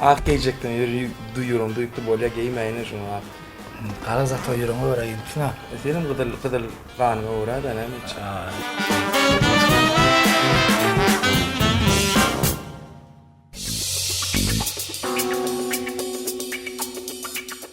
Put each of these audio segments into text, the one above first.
Ak geýjekden ýöri duýuram duýupdy bolýa geýmäýine şuňa ak. Gara zat o ýüregiňe görä ýüzüpsiň a. E senem gyzyl gyzyl ganyňa görä da näme etjek.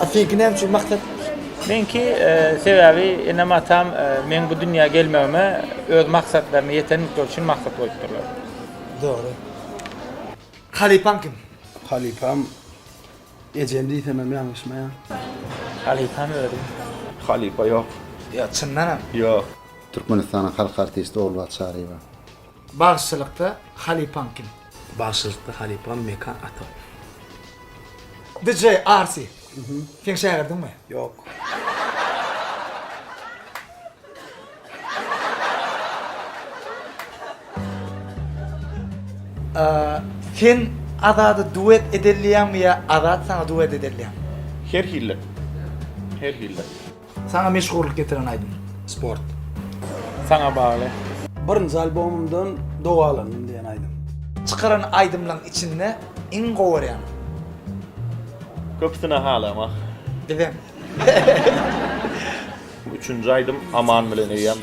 A seňki näme üçin maksat? Meňki sebäbi enem atam meň bu dünýä gelmegime öz maksatlaryna ýetenlikleri üçin maksat goýupdyrlar. Dogry. Halypaň kim? Halypam ejem diýsemem ýalňyşmaýan. Halypam özüm. Halypa ýok. Ýa çyndanam? Ýok. Türkmenistanyň halk artisti Ogulbagt Çaryýewa. Bagşylykda halypaň kim? Bagşylykda halypam Mekan ata. DJ Arsy. Seň şägirdiňmi? Ýok. Sen Azada duet edelýäňmi ýa Azat saňa duet edelýämi? Her hili. Her hili. Saňa meşhurlyk getiren aýdym. Sport. Saňa bagly. Birinji albomymdan Dogalandym diýen aýdym. Çykaran aýdymlaň içinde iň gowarýan. Köpüsine halamak. Bizem. Üçünji aýdym Aman bilen eýýäm.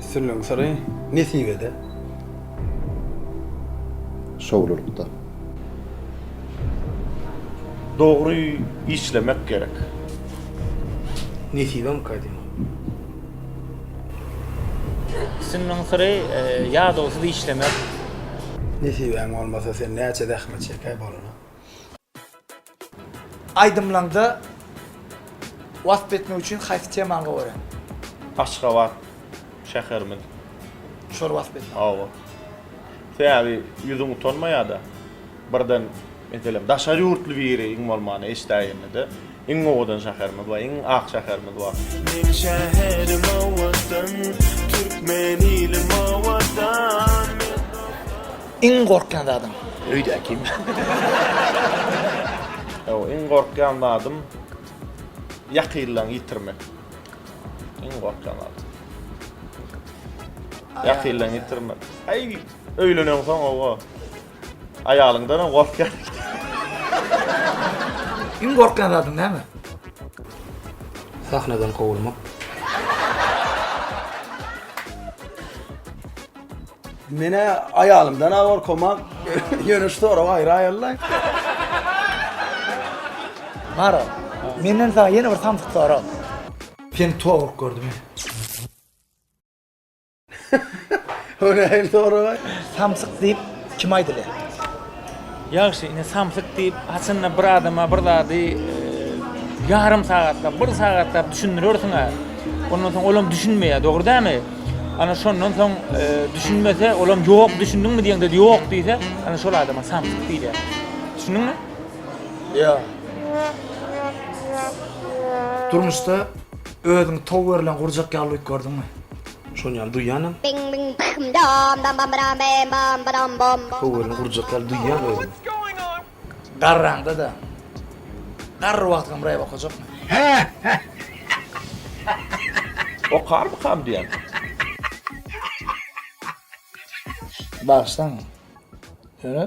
Sürüniň syry nesibede. Şowlulykda. Dogry işlemek gerek. Nesibem kädin. Sürüniň syry ýadawsyz işlemek. Nesibäň bolmasa sen näçe zähmet çekä bolana. Aýdymlaňda wasp etmek üçin haýsy temany goraýaň? Aşgabat şäherimiz. Şol wasp et. Hawa. Sebäbi ýüzüň utanmaýada. Birden meselem daşary ýurtly biri iň bolmanda eşdäýende-de iň owadan şäherimiz bar, iň ak şäherimiz bar. Meň şäherim owadan, türkmen ilim owadan. Iň gorkýan zadyň öýdä kim? Ýok, iň gorkýan zadym ýakynlaň ýitirmek. Iň gorkýan zadym. Ýakynlaň ýitirmek. Aý, öýlenensoň owo. Aýalyňdanam gorkýan. Iň gorkýan zadyň näme? Sahnadan kowulmak. Menä aýalymdan-a gorkamok. Ýöne şu sorag aýry aýallaý. Maro, menden saňa ýene bir samsyk sorag. Seni towuk gördüm. O nähili sorag-aý? Samsyk diýip kim aýdylýar? Ýagşy, ine samsyk diýip, haçanda bir adama bir zady ýarym sagatlap, bir sagatlap düşündirersiň-ä. Ondan soň olam düşünmeýär, dogry dämi? Ana şondan soň düşünmese, olam ýok, düşündiňmi diýeňde ýok diýse, ana şol adama samsyk diýilýär. Düşündiňmi? Ýa. Durmuşda özüňi tow berlen gurjak ýaly duýup gördüňmi? Şony ýaly duýýanam. Bing bing bim dom dom bam bram bim bom badom bom. Höwürine urjak ýaly duýýan özümi. Garraňda-da garry wagtykam rep okajakmy? Okarmykam diýýän. Bagyşlaň, ýöne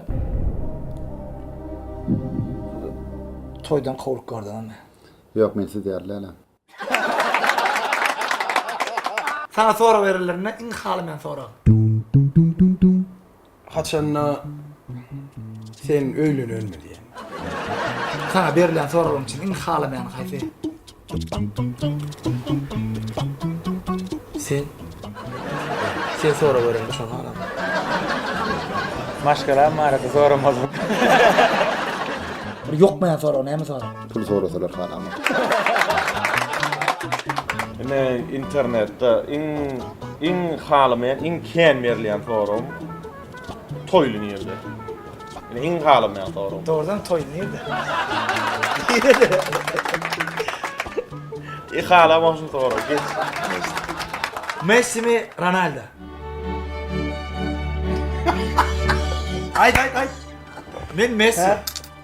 toýdan kowlup gördüňizmi? Ýok, men siz ýaly dälem. Saňa sorag berilende iň halamaýan sorag. Haçanda sen öýlenelmi diýen. Saňa berilýän soraglaryň içinde iň halamaýany haýsy? Sen. Sen sorag berende şony halan. Maşgalam barada soramazlyk. Bir ýokmaýan sorag näme sorag? Pul sorasalar halaman. Ine internetde iň iň halamaýan, iň kän berilýän soram toýly nirde? Ine iň halamaýan soram. Dogrudan toýly nirde? E halaman şu soram. Messi mi Ronaldo? Aýt aýt aýt. Men Messi.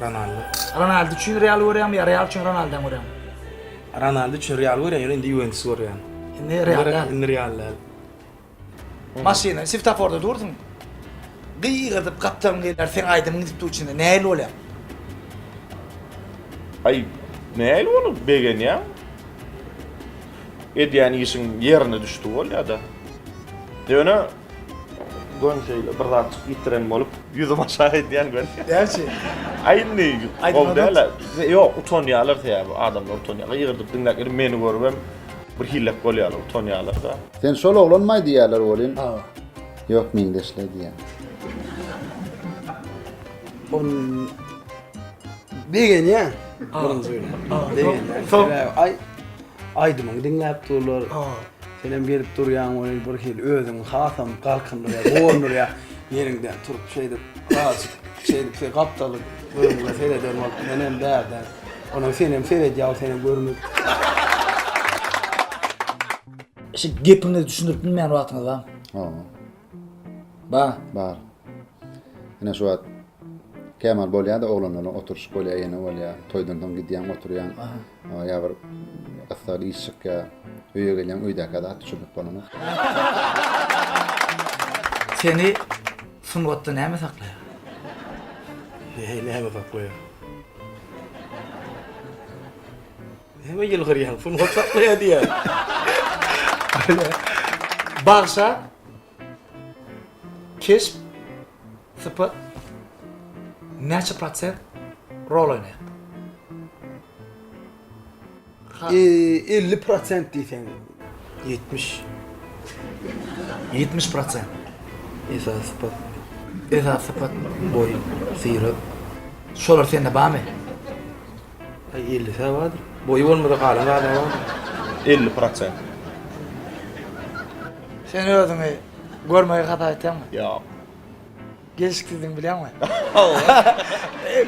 Ronaldo. Ronaldo üçin Real görýäňmi ýa Real üçin Ronaldo görýäňmi? Ronaldo üçin Real görýän, ýöne indi Juventus görýän. Indi Real. Indi Real. Maşyna siftaforda dursun. Gygyryp gapdalyň gelýär, sen aýdym gidip dur içinde. Nähili bolýar? Aý, nähili bolup begenýär? Edýän işiň ýerine düşdi bolýar-da. Ýöne Gön şeýle bir zatjyk ýitiren bolup, ýüzüm aşak edýän gön. Gerçi. Aý indi gowy däl-ä. Ýok, utanýarlar sebäbi adamlar utanýarlar. Ýygyrdyp diňläp gelip meni görüp hem bir hilek bolýarlar, utanýarlar-da. Sen şol oglanmaý diýýärler welin. Hawa. Ýok, meňzeşler diýýän. Ol begenýär. Birinji gün. Begenýär. Aý. Aýdymyňy diňläp durlar. Senem gelip durýaň ony bir hili özüňi hasam galkyndyrýar, guwandyrýar. Ýeriňden turup şeýdip, azyk şeýdip şeý gapdalyp özüňe sereder bolup menem bärde. Onam senem seredýär, seni görmüp. Şu gepiňizi düşündirip bilmeýän wagtyňyz barmy? Ba, bar. Ine şu wagt Kemal bolýar-da, oglanlaryň oturyşyk bolýar, ýene bolýar. Toýdan soň gidýäň, oturýaň. Ýa bir gyssagly iş çykýar. Öýe gelýäň, öýdäkä zat düşürlip bolanok. Seni sungatda näme saklaýar? Näme saklaýar? Näme ýylgyrýaň, sungat saklaýar diýýän. Bagşa keşp sypat näçe prosent rol oýnaýar? Eee 50 prosent diýseň 70. 70 prosent. Esas sypat. Esas sypat boý, syrat. Şolar sende barmy? Aý elli sä bardyr. Boýy bolmasa galan zada bardyr. Elli prosent. Sen özüňi görmegi hasap etýäňmi? Ýok. Gelşiksizdigiňi bilýäňmi?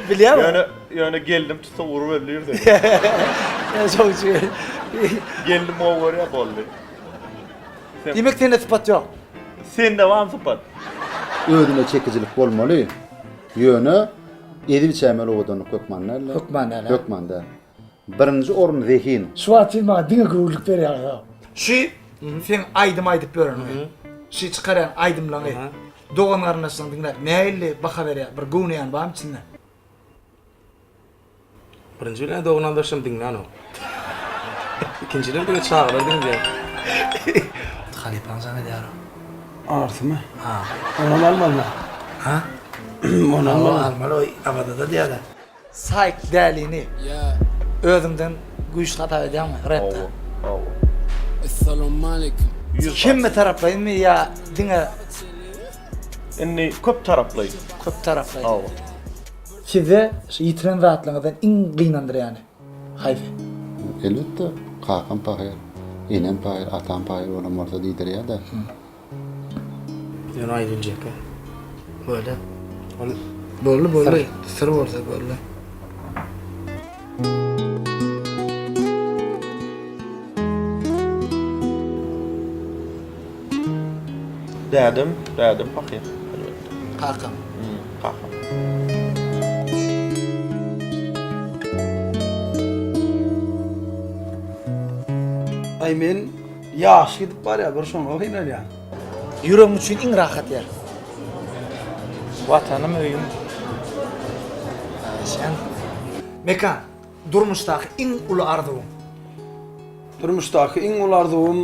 Bilýärmi? Ýöne, ýöne gelnim tutsa urup öldürdi. Ýa şoň üçin. Gelnim gowy görýär boldy. Diýmek sende sypat ýok. Sende barmy sypat? Özüne çekijilik bolmaly. Ýöne Edil çämeli owadanlyk hökman däldi. Hökman däl-ä. Hökman däl. Birinji orun zehin. Şu wagt siz maňa diňe göwünlik berýäňiz-ow. Şu seň aýdym aýdyp ýöreniňi, şu çykarýan aýdymlaňy dogan-garyndaşlaň diňläp nähilli baha berýär? Bir göwneýäni barmy içinde? Birinji bilen dogry aldaşym diňlänok. Ikinjiden diňe çagalar diňleýär. Halypaň jaň edýär. Artymy? Ha. Onam almalymy? Ha? Onam almaly oý Abadada diýýäler. Saýk dälini özüňden güýçli hasap edýäňmi repde? Hawa. Essalawmaleýkim. Hemme taraplaýynmy ýa diňe. Indi köp taraplaýyn. Köp taraplaýyn. Hawa. Size şu ýitiren zatlaryňyzdan iň gynandyrýany haýsy? Elbetde, kakam pahyr, enem pahyr, atam pahyr bolan bolsa diýdirýär-dä. Ýöne Aýgünje eke böyle. Ol boldy, boldy. Syr bolsa boldy. Dädem, dädem pahyr, elbetde. Kakam. Hmm, kakam. Aý men ýaşy gidip barýar bir şoňa gynalýan. Ýüregim üçin iň rahat ýer. Watanym öýüm. Sen. Mekan. Durmuşdaky iň uly arzuwyň. Durmuşdaky iň uly arzuwym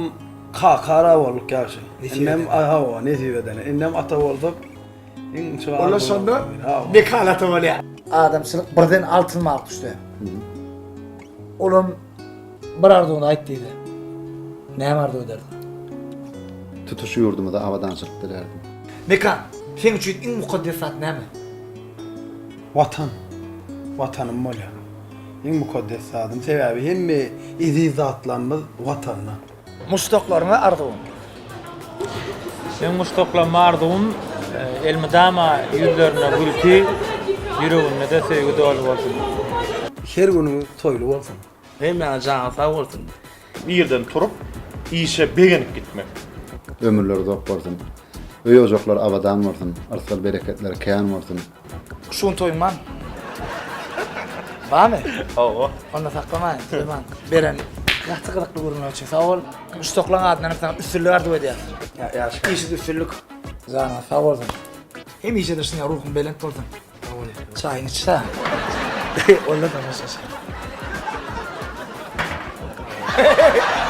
kaka ara bolduk ýagşy. Indem hawa nesip edeni. Indem ata bolsak iň çy. Ola şonda Mekan ata bolýar. Adamçylyk birden altyn balyk düşse. Olam. Bir arzuwyňy aýt diýse, näme arzuw ederdiň? Tutuş ýurdumyza abadançylyk dilerdim. Mekan, seň üçin iň mukaddes zat näme? Watan. Watanym bolýar. Iň mukaddes zadym. Sebäbi hemme eziz zatlarymyz Watanda. Muşdaklaryňa arzuwyň? Meň muşdaklaryma arzuwym elmydama ýüzlerinde gülki, ýüreginde-de söýgi doly bolsun. Her günüňiz toýly bolsun. Hemmäňiz janyňyz sag bolsun. Irden turup, işe begenip gitmek. Ömürleri uzak bolsun. Öý-ojaklar abadan bolsun. Yrsal-bereketleri kän bolsun. Şuny toýman. Bamy? Hawa. Onda saklamaýyn, toýman. Beren gaty gyzykly görünýär üçin sag bol. Şu toklaň adyndan hem saňa üstünlik arzuw edýäs. Ýa, ýaşka. Işiňde üstünlik. Janyňyz sag bolsun. Hemişe-de şunýa ruhuň belent bolsun. Sag bol. Çaýyňy iç-hä. Onda tamaşaçy.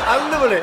Aldy buly.